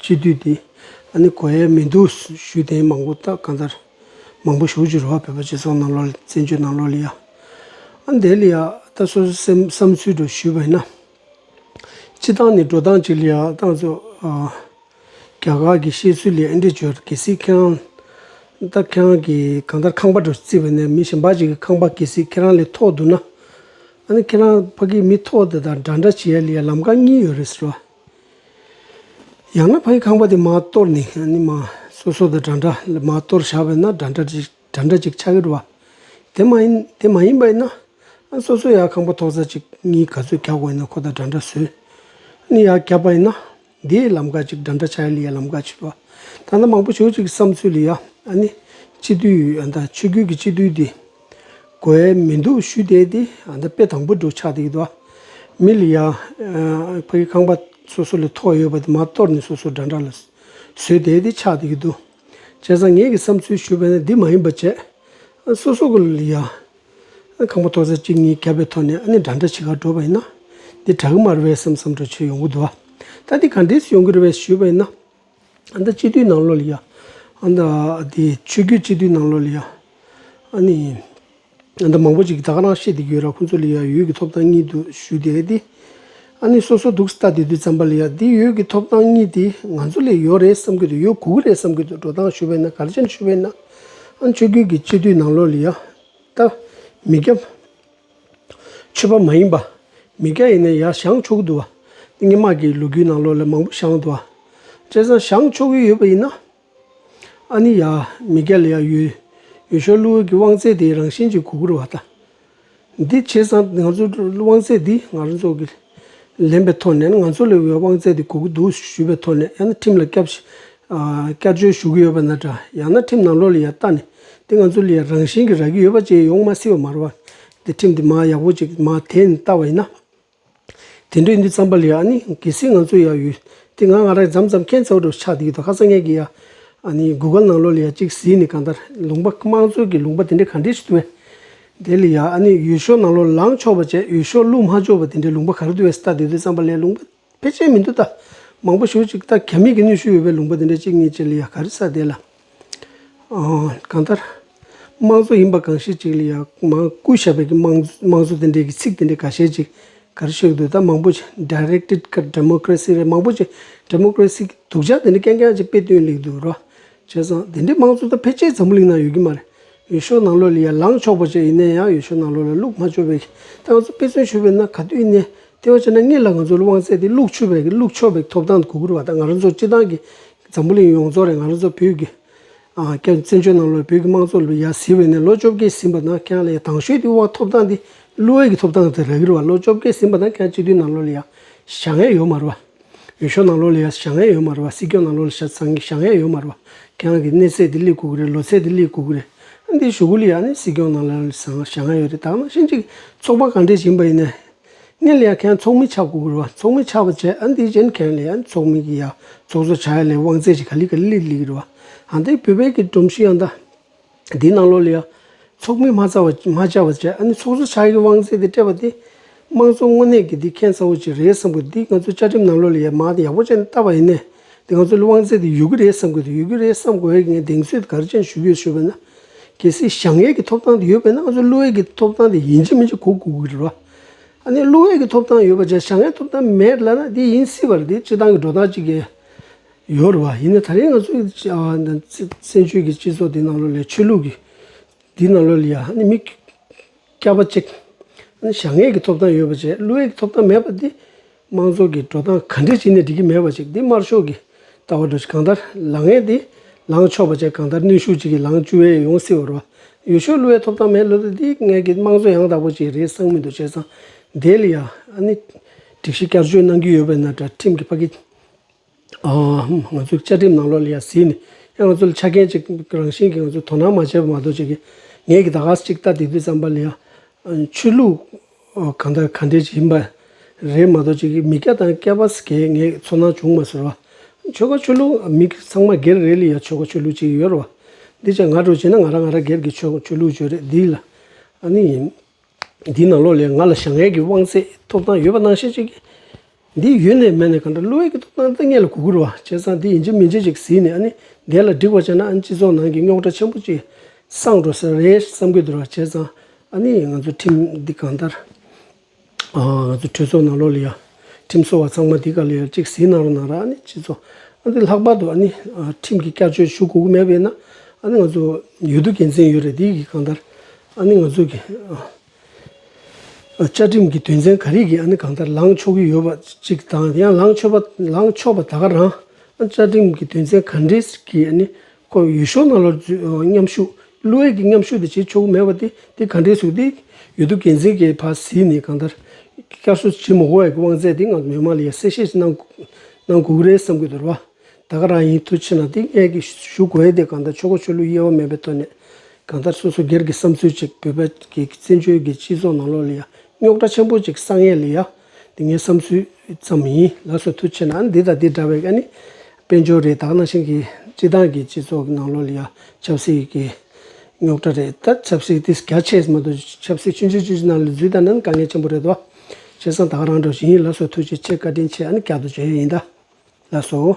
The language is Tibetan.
སྤྱི་འཐུས་དེ་ཨ་ནི་གོ་ཡས་མི་འདུག་ཞུས་དེ་མང་པོ་ད་གང་ལྟར་མང་པོ་ཞུགས་ཅི་རོ་བོད་པ་སྤྱི་ཚོགས་ནང་ལོག་ལི་བཙན་བྱོལ་ནང་ལོག་ལི་ཡ་ཨ་འདས་ལི་ཡ་ད་སོ་སོའི་སེམས་བསམ་ཚུལ་འགྲོ་ཞུས་པ་ཡིན་ན་སྤྱི་སྟངས་ནི་འགྲོ་སྟངས་ཅིག་ལི་ཡ་ཏང་ཙོ་ཨ་རྒྱ་གར་གི་བཤད་ཚུལ་ལི་ཨ་འདྲི་བྱོས་གལ་སྲིད་ཁྱེད་རང་ད་ཁྱེད་རང་གི་གང་ལྟར་ཁང་པ་འགྲོ་རྩིས་པ་ནས་མི་གཞན་པ་ཅིག་གི་ཁང་པ་གལ་སྲིད་ཁྱེད་རང་ལི་ཐོག་འདུག་ན་ཨ་ནི་ཁྱེད་རང་ཕ་གིའི་མི་ཐོག་དེ་དང་འདྲ་འདྲ་བྱེད་ཡ་ལི་ཡ་ལམ་ཀ་གཉིས་ཡོད་རེད་ཟེར་བ། ཡང་ན་ཕའི་ཁང་པ་དེ་མ་གཏོར་ནས་སོ་སོ་དང་འདྲ་འདྲ་ལས་མ་གཏོར་བཞག་པས་ན་འདྲ་འདྲ་ཅིག་ཆགས་ཀྱི་འགྲོ་བ། དེ་མ་ཡིན་དེ་མ་ཡིན་པ་ཡིན་ན་སོ་སོ་ཡང་ཁང་པ་ཐོག་རྩ་གཅིག་གཉིས་ག་ཚོད་གྱག་པ་ཡིན་ན་ཁོ་དང་འདྲ་འདྲ་བཟོས་ནས་ཡང་གྱག་པ་ཡིན་ན་དེའི་ལམ་ཀ་ཅིག་འདྲ་འདྲ་ཆགས་ཡ་ལི་ཡ་ལམ་ཀ་ཅིག་འགྲོ་བ། ད་ལྟ་མང་པོ་བྱོས་ཅིག་བསམ་ཚུལ་ལ་ཡང་ཨ་ནི་སྤྱི་འཐུས་ཡོད་ཨ་མདའ་ཆོས་བརྒྱུད་ཀྱི་སྤྱི་འཐུས་དེ། གོ་ཨེ་མི་འདུག་ཞུས་བསྡད་དེ་ཨ་མདའ་དཔེ་དང་པོ་འགྲོ་ཆགས་འདུག་གི་འདུག་ཨ། མི་ལ་ཡ། ཕ་གི་ཁང་པ་སོ་སོ་ལས་ཐོག་ཡོད་པ་དེ་མ་གཏོར་ནས་སོ་སོ་འདྲ་འདྲ་ལ་བཟོས་བསྡད་དེ་ཆགས་འདུག་གི་འདུག་བྱས་ཙང་ངེད་ཀྱི་བསམ་ཚུལ་ཞུས་པ་ནི་འདི་མ་ཡིན་པ་བྱས། ཨ་སོ་སོ་གི་ལ་ཡ། ཁང་པ་ཐོག་ཚར་གཅིག་གཉིས་བརྒྱབ་པའི་ཐོག་ནས་ཨ་ནི་འདྲ་འདྲ་བྱེད་ཁར་འགྲོ་བ་ཡིན་ན། འདི་གྲགས་མ་རེད་བསམ་བསམ་འདྲ་བྱེད་ཡོང་གི་འདུག་ཨ། ད་འདི་ག་འདྲས་སུ་ཡོང་གི་རེད་བས་ཞུས་པ་ཡིན་ན། ཨ་མདའ་སྤྱི་འཐུས་ནང་ལོགས་ལ་ཡ། ཨ་མདའ་དེ་ཆོས་རྒྱུད་སྤྱི་འཐུས་ནང་ལོགས་ལ་ཡ། ཨ་ནི། ཨ་མདའ་མང་པོ་ཅིག་གིས་ད་ག་རང་བཤད་དེ་གྱོད་ར་ཁོང་ཚོ་ལ་ཡ་ཡོད་ཀྱི་ཐོབ་ཐང་གཉིས་འདུག་ཞུ་དེ་རེད་དེ། ཨ་ནི་སོ་སོ་འདུག་སྟ་དེ་དུས་ཙམ་པ་ལ་ཡ་དེ་ཡོད་ཀྱི་ཐོབ་ཐང་གཉིས་དེ་ང་ཚོ་ལས་ཡོད་རེད་བསམ་གྱི་འདུག་ཡོད་གུག་རེད་བསམ་གྱི་འདུག་འགྲོ་སྟངས་ཞུ་བས་ན་གར་ཆེན་ཞུ་བས་ན། ཨ་ནི་ཆོས་རྒྱུད་ཀྱི་སྤྱི་འཐུས་ནང་ལོགས་ལ་ཡ། ད། མི་རྒྱབ། ཆོས་པ་མ་ཡིན་པ། མི་སྐྱ་ཡིན་ན་ཡར་བྱང་ཆོག་གི་འདུག་བ། ཏིང་ངེ་མ་གིས་ལོ་རྒྱུས་ནང་ལོ་ལེགས་མང་པོ་བྱང་འདུག་བ། བྱས་ཙང་བྱང་ཆོག་གི་ཡོད་པ་ཡིན་ན། ཨ་ནི་ཡར་མི་སྐྱ་ལ་ཡར་ཡོད་ཡོད་ཤོག་གླུ་འོད་ཀྱི་དབང་ཚད་དེ་རང་བཞིན་གྱིས་གོ་བགོ་རུ་བ་ད། འདི་བྱས་ཙང་ང་ཚོ་དབང་ཚད་འདི་ང་རང་ཚོ་གི། ལེན་པའི་ཐོག་ནས་ང་ཚོ་ལས་དབང་བཙལ་ཏེ་གོ་གི་འདུག་ཞུས་པའི་ཐོག་ནས་ཡང་ན་ཁྲིམས་ལ་སྐྱབས་བཅོལ་ཞུ་གི་ཡོད་པ་ན་འདྲ་ཡང་ན་ཁྲིམས་ནང་ལོགས་ལ་ཡར་བལྟ་ནས་དེ་ང་ཚོ་ལས་རང་བཞིན་གྱིས་རག་གི་ཡོད་པ་བཅས་ཡོང་མ་སྲིད་པ་མ་རེད་བ། དེ་ཁྲིམས་དེ་མ་ཡག་པོ་ཅིག་མ་དེ་ནས་བལྟ་བ་ཡིན་ན། དེ་འདྲའི་འདི་བརྩམས་པ་ལས་ཨ་ནི་གལ་སྲིད་ང་ཚོ་ཡར་ཡོད་དེ་ང་ང་རང་འཇམ་ཙམ་མཁྱེན་བརྩེ་བ་དྲོ་ཆགས་དེ་གི་ཐོག་ཁ་སང་ངེད་ཀྱི་ཡར་ཨ་ནི་གུ་ག་ནང་ལོགས་ལ་ཡར་གཅིག་གཟིགས་ནས་གང་ལྟར་ལུང་པ་དམངས་གཙོ་གི་ལུང་པ་དེ་འདྲའི་ག་འདྲའི་ཞིག་ཏུ་བས། དེ་ལ་ཡང་ཨ་ནི་ཡུལ་ཤོག་ནང་ལོག་ལངས་ཆོག་པ་བཅས་ཡུལ་ཤོག་བླུག་མ་ཆོག་པ་དེ་འདྲའི་ལུང་པ་ག་རེ་འདུག་བས་སྟག་དེ་དུས་རྩམ་པ་ལས་ལུང་པ་ཕལ་ཆེར་མི་འདུག་ད་མང་པོ་ཞུ་ཅིག་སྟག་ག་མིག་གི་གནོད་ཤུགས་ཡོད་པའི་ལུང་པ་དེ་འདྲ་གཅིག་གཉིས་བཅས་ལ་ཡང་ག་རེ་ས་དེ་ལ་གང་ལྟར། དམངས་གཙོ་ཡིན་པ་གང་ཤེས་ཅིག་ལ་ཡང་མང་སྐུ་ཞབས་པའི་གི་དམངས་གཙོ་དེ་འདྲའི་གི་ཚིག་དེ་འདྲའི་ག་ཤེས་ཅིག་ག་རེ་ཤོད་འདུག་ད་མང་པོ་ཅིག Directed ཀ Democracy རེད་མང་པོ་ཅིག Democracy གི་དུག་ཆག་དེ་འདྲ་ཀན་ཀན་ཅིག་དཔེ་སྟོན་ལེགས་འདུག་རོ། བྱས་ཙང་དེ་འདྲའི་དམངས་གཙོ་ད་ཕལ་ཆེར་འཛམ་བུ་གླིང་ནང་ཡོད་ཀྱི་མ་རེད། ཡུལ་ཤུལ་ནང་ལོགས་ལ་ཡར་ལངས་ཆོག་པ་བཅས་ཡིན་ན་ཡང་ཡུལ་ཤུལ་ནང་ལོགས་ལ་ལུག་མ་ཆོད་པའི་སྟེང་ང་ཚོ་དཔེ་མཚོན་ཞུས་པའི་ནང་ག་དུས་ནས་ལྟེ་བ་ཆེ་ན་ངེད་ལ་ང་ཚོའི་དབང་ཚད་དེ་ལུག་ཆོད་པའི་ལུག་ཆོད་པའི་ཐོབ་ཐང་གུ་གུར་བ་དང་ང་རང་ཚོ་སྤྱི་བཏང་གི་འཛམ་བུ་གླིང་ཡོངས་རྫོགས་རེད་ང་རང་ཚོ་བོད་ཀྱི་སྐད་བཙན་བྱོལ་ནང་ལོགས་ལ་བོད་ཀྱི་དམངས་གཙོ་ལོ་ཡར་བཟི་བའི་ནས་ལོ་བཅོ་བརྒྱད་ཟིན་པ་ནང་ཁྱེད་ལ་ཡང་དང་ཤོས་དེའི་དབང་ཐོབ་ཐང་དེ་ལུའེ་ཀྱི་ཐོབ་ཐང་དེ་རག་གི་རེད་བ་ལོ་བཅོ་བརྒྱད་ཟིན་པ་ནང་ཁྱེད་སྤྱི་འཐུས་ནང་ལོགས་ལ་ཡང་བཞག་ཡས་ཡོད་མ་རེད་བ། ཡུལ་ཤོག་ནང་ལོགས་ལ་ཡ་ཞང་ཡ་ཡོད་མ་རེད་བ་སྲིད་སྐྱོང་ནང་ལོགས་ལ་ཤ་ཚང་ཞང་ཡ་ཡོད་མ་རེད་བ་ཁྱེད་རང་གི་གནས་ཚད་དེ་གླིག་གུག་རེད་ལོ་ཚད་དེ་གླིག་གུག་རེད་ཨ་འདི་ཞུ་གུ་ལི་ཡ་ནི་སྲིད་སྐྱོང་ནང་ལོགས་ལ་ཞང་ཞང་ཡ་ཡོད་རེད་དག་ན་ཤིན་ཅིག་ཚོགས་པ་གང་འདྲས་བྱིན་པ་ཡིན་ནས་ངས་ལི་ཡ་ཁྱེད་རང་ཚོགས་མི་ཆགས་གུག་རེད་བ་ཚོགས་མི་ཆགས་པ་བྱས་ཨ་འདི་བྱས་ནི་ཁྱེད་རང་ལི་ཡ་ནི་ཚོགས་མི་གི་ཡ་ཚོགས་གཙོ་ཆགས་ཡ་ལས་དབང་ཚད་ཅིག་ག་ལི་ག་ལི་ལི་ལི་གི་རེད་བ་ཨ་འདི་བོད་པའི་གི་སྒྲོམ་གཞི་ཡང་ད། འདིའི་ནང་ལོགས་ལ་ཡང། ཚོགས་མི་མ་རྩ་བ་མ་བཅའ་བ་བྱས་ཨ་ནི་ཚོགས་གཙོ་ཕྱག་གི་དབང་ཚད་དེ་སྤྲད་པ་དེ། དམངས་གཙོ་དངོས་གནས་ཀྱི་འདི་མཁྱེན་ཚ་བོ་ཅིག་རེད་བསམ་དགོས་འདི་ང་ཚོའི་བཅའ་ཁྲིམས་ནང་ལོགས་ལ་ཡང་མ་ཡག་པོ་བཅས་ནས་བཏབ་པ་ཡིན་ནའི། འདི་ང་ཚོའི་དབང་ཚད་དེ་ཡོད་ཀྱི་རེད་བསམ་དགོས་དེ་ཡོད་ཀྱི་རེད་བསམ་དགོས་ཨེ་ངས་གདེང་ཚོད་དེ་ག་རེ་ཅན་ཞུ་གི་ཡོད་བྱས་པས་ན། གལ་སྲིད་ཞང་ཡས་ཀྱི་ཐོབ་ཐང་དེ་ཡོད་པས་ན་ང་ཚོའི་ཀླུ་ཡས་ཀྱི་ཐོབ་ཐང་དེ་ཡིན་གཅིག་མིན་གཅིག་གོ་དགོས་ཀྱི་རེད་བ། ཨ་ནི་ཀླུ་ཡས་ཀྱི་ཐོབ་ཐང་ཡོད་པ་བྱས་ཞང་ཡས་ཐོབ་ཐང་མེད་ལ་ན་འདི་ཡིན་སྲིད་པ་རེད་འདི་སྤྱི་བཏང་གི་འགྲོ་སྟངས་གཅིག་ཡིན། ཡོད་རེད་བ། ཡིན་ན་ད་རེས་ང་ཚོའི་བཙན་བྱོལ་གྱི་སྤྱི་ཚོགས་འདི་ནང་ལོ་ལས་ཆོས་ལུགས་ཀྱི་འདི་ནང་ལོ་ལས་ཡ་ནི་མི་སྐྱ་པ་གཅིག་ནི་བྱ་ངན་གྱི་ཐོབ་ཐང་ཡོད་པ་བྱས་བླུ་བའི་ཐོབ་ཐང་མེད་པ་འདི་དམངས་ཚོགས་ཀྱི་འགྲོ་སྟངས་ག་འདྲས་བྱས་ནས་འགྲིག་གི་མེད་པ་ཅིག་འདི་དམར་ཤོག་གི་ལྟ་བ་འགྲོ་ཆེད་གང་ལྟར་ལག་ངན་འདི་ལངས་ཆོག་པ་བྱས་གང་ལྟར་ནུས་ཤུགས་གཅིག་གིས་ལངས་བཅུ་བས་ཡོང་སྲིད་བ་རེད་བ། ཡོད་ཤོས་བླུ་བའི་ཐོབ་ཐང་མེད་བླུ་ད་འདི་ངལ་གྱི་དམངས་གཙོ་ཡང་དག་པོ་བྱས་རེས་གསང་མི་འདུག་བྱས་ཙང་འདས་ལ་ཡ་ནི་སྒྲིག་གཞི་བསྐྱར་བཅོས་གནང་རྒྱུ་ཡོད་པའི་ན་དྲ་ཁྲིམས་ཀྱི་ཕ་གི་ང་ཚོའི་བཅའ་ཁྲིམས་ནང་ལོགས་ལ་ཡང་གཟིགས་ནས་ཡང་ང་ཚོ་ལ་ཆ་རྐྱེན་ཅིག་རང་བཞིན་གྱིས་ང་ཚོས་དོ་སྣང་མ་བྱས་པ་མ་གཏོགས་ཅི་གི། ངས་ཀྱི་ད་ག་ས་ཅིག་ལྟ་དེ་དུས་བསམ་པ་ལ་ཡང། ཆོས་ལུགས་གང་དང་གང་འདྲའི་ཡིན་པ་རེད་མ་གཏོགས་ཅི་གི་མི་སྐྱ་དང་སྐྱ་བ་ཟེར་མཁན་ངས་ཚོར་སྣང་བྱུང་མ་ཟེར་བ། ཆོལ་ཁ་ཆོས་ལུགས་མི་ཚང་མ་སྒེར་རེ་ལ་ཡང་ཆོལ་ཁ་ཆོས་ལུགས་ཅིག་ཡོད་རེད་བ། འདི་ཅག་ང་དྲོ་བྱས་ན་ང་རང་ང་རང་སྒེར་གྱི་ཆོས་ལུགས་བརྗོད་རེད་འདི་ལ་ཨ་ནི་ཡིན། འདིའི་ནང་ལོགས་ལས་ང་ལ་ཞང་ཡལ་གྱི་དབང་ཚད་ཐོབ་ཐང་ཡོད་པ་ནང་བཤད་ཅིག་གི། འདི་ཡོད་ནས་མེད་ནས་གང་འདྲ་བསླུ་བའི་གི་ཐོབ་ཐང་འདི་ངེད་ལ་གུ་གུར་བ་བྱས་ཙང་འདི་ཡིན་ཅིག་མིན་ཅིག་ཅིག་ཟིན་ནས་ཨ་ནི་འདས་ལ་འགྲིག་པར་བྱས་ན་ཨ་ནི་སྤྱི་ཚོགས་ནང་གི་རྙོག་དྲ་ཆེན་པོ་ཅིག་སངས་འགྲོ་ས་རེད་བསམ་གི་འདུག་ར་བྱས་ཙང་ཨ་ནི་ང་ཚོ་ཁྲིམས་འདི་གང་ལྟར་ང་ཚོ་གྲོས་ཚོགས་ནང་ལོགས་ལས་ཡང་ཁྲིམས་བཟོ་བ་ཚང་མ་འདི་ག་ལ་ཡོད་ཅིག་ཟིན་གནང་རོགས་གནང་ར་ཨ་ནི་སྤྱི་ཚོགས་ཨ་འདི་ལྷག་པར་དུ་ཨ་ནི་ཁྲིམས་ཀྱི་བསྐྱར་བཅོས་ཞུ་གུ་གུ་མེད་པས་ན་ཨ་ནི་ང་ཚོ་ཡོད་དུ་དགེ་མཚན་ཡོད་རེད་འདི་གི་གང་ལྟར་ཨ་ནི་ང་ཚོས་བཅའ་ཁྲིམས་ཀྱི་དོན་ཚན་ག་རེ་གིས་ཨ་ནི་གང་ལྟར་ལངས་ཆོག་གི་ཡོད་པ་ཅིག་དང་ཡང་ལངས་ཆོག་པ་ལངས་ཆོག་པ་ད་ག་རང་ཨ་བཅའ་ཁྲིམས་ཀྱི་དོན་ཚན་ག་འདྲེས་ཀྱིས་ཨ་ནི་ཁོ་ཡུལ་ཤོག་ནང་ལོར་མཉམ་ཞུགས་བླུ་འོས་ཀྱི་མཉམ་ཞུགས་དེ་བྱེད་ཆོག་གི་མེད་པ་དེ་དེ་ག་འདྲེས་སུ་དེ་ཡོད་དུ་འགན་འཛིན་གྱི་ཕ་ཟིས་ནས་གང་ལྟར་བསྐྱར་གསོ་བྱེད་མི་དགོས་བ་ཀྱི་དབང་ཚད་དེ་ངང་དུ་མི་དམངས་ལ་ཡར་གསལ་བཤད་གནང་གུག་རེད་བསམ་གི་འདུག་ར་བ། བདག་རང་ཡིན་མཐུ་ཕྱིན་ལ་ཏིང་ངེ་གིས་ཞུ་དགོས་ཏེ་གང་ལྟར་ཆོས་འཁོར་ཆོས་ལུགས་དབྱེ་བ་མེད་པའི་ཐོག་ནས། གང་ལྟར་སོ་སོ་སྒེར་གྱི་བསམ་ཚུལ་ཅིག་བོད་པའི་གི་བཙན་བྱོལ་གྱི་སྤྱི་ཚོགས་ནང་ལོགས་ལ་ཡང་རྙོག་དྲ་ཆེན་པོ་ཅིག་བསགས་ངེས་ལ་ཡ། འདི་ངའི་བསམ་ཚུལ་ཙམ་ཡིན་ལགས་སོ་མཐུ་ཕྱིན་ན་འདི་དང་འདི་འདྲ་བའི་ཀ་ནི་དཔལ་འབྱོར་རེད་དག་ནང་བཞིན་གྱི་སྤྱི་བཏང་གི་སྤྱི་ཚོགས་ཀྱི་ནང་ལོགས་ལ་ཡ་ཆབ་སྲིད་ཀྱི་རྙོག་དྲ་རེད་ད་ཆབ་སྲིད་དེ་རྒྱ་ཆེ་མ་གཏོགས་ཆབ་སྲིད་ཕྱི་འབྱོར་སྤྱི་ཚོགས་ནང་ལ་འཛུལ་ད་ནི་དཀའ་ངལ་ཆེན་པོ་རེད་དོ། སྤྱན་བཟང་དག་རང་གྲོལ་བྱིན་ཡིན་ལགས་སོ་ཐུགས་རྗེ་ཆེ་བཀའ་དྲིན་ཆེ་ཨ་ནི་བསྐྱར་དུ་བརྗོད་ཡོད་ཡིན་ད་ལགས་སོ།